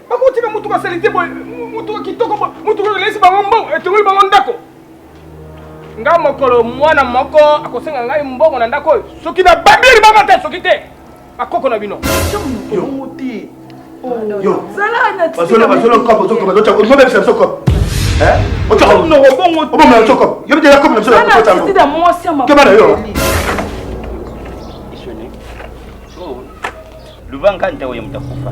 bakotika motuka salite boye motuka kitoko boye motuka elesi bango mbongo etongoli bango ndako nga mokolo mwana moko akosenga ngai mbongo na ndako oyo soki na babi libanga te soki te bakoko na bino Luba nkanta oyo mtakufa.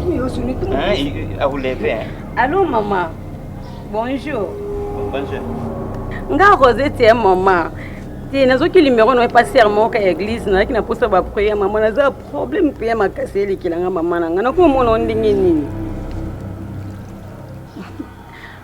Huyo si ni tumbo. Ah, il- il- akuleve eh. Allô maman. Bonjour. Bonjour. Nga Rosette ya maman. Te nazoki numéro na epasi ya moko ya église nalaki naposa ba prière maman naza problème mpe ya makasi elekela nga maman na nga nakomona yo ndenge nini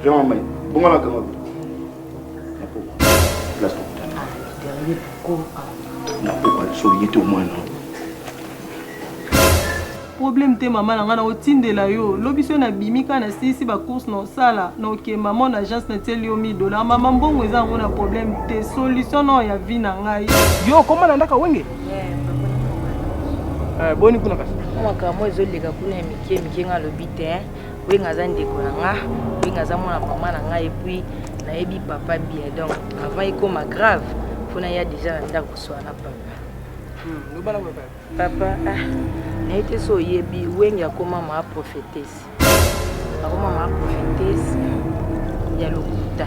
Vraiment, mais bongo la kanga. Na po. La stop. Ah, derrière pourquoi? Na po pas so yete au moins non. problème te mama na ngai nakotindela yo lobi so nabimi kaka nasilisi bacourse na osala na oke mama na agence natieli yo 1000 dollar mama mbongo eza yango na problème te solution nao ya vie na ngai yo okoma na ndako wenge eh, boni kuna kasi makambo ezoleka kuna ya mike mike ngai alobi te Wenge aza ndeko na nga, Wenge aza mwana mama na nga epuis nayebi papa bien donc avant ekoma grave mpo naya deja na ndako koswana na papa hmm, papa ah, naye te so oyebi Wenge akoma maa prophétesse akoma maa prophétesse ya lokuta